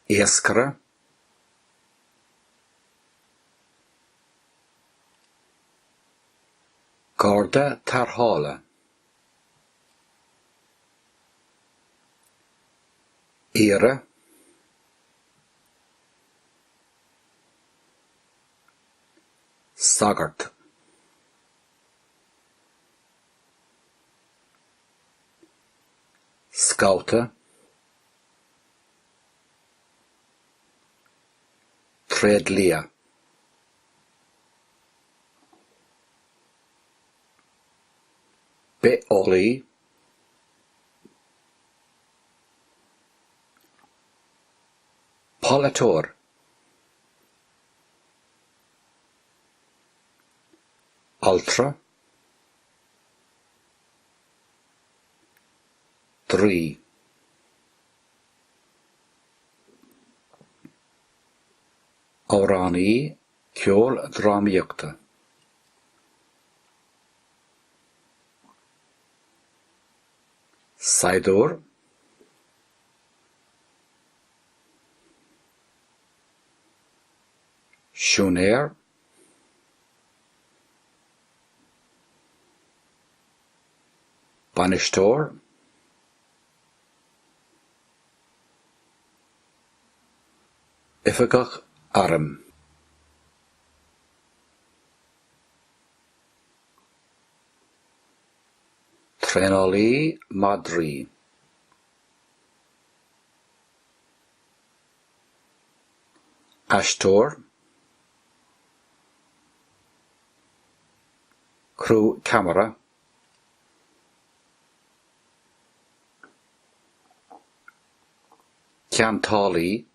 iascaire, garda tarrthála, aoire, sagart. scabhta. tréidlia. bitheolaí. polaiteoir. altra, draoi. amhránaí ceoldrámaíochta. saighdiúir. Siúinéir, bainisteoir, oifigeach airm. Traenálaí madraí. Aisteoir, criú ceamara, ceantálaí,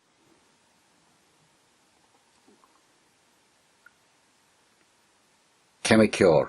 ceimiceoir.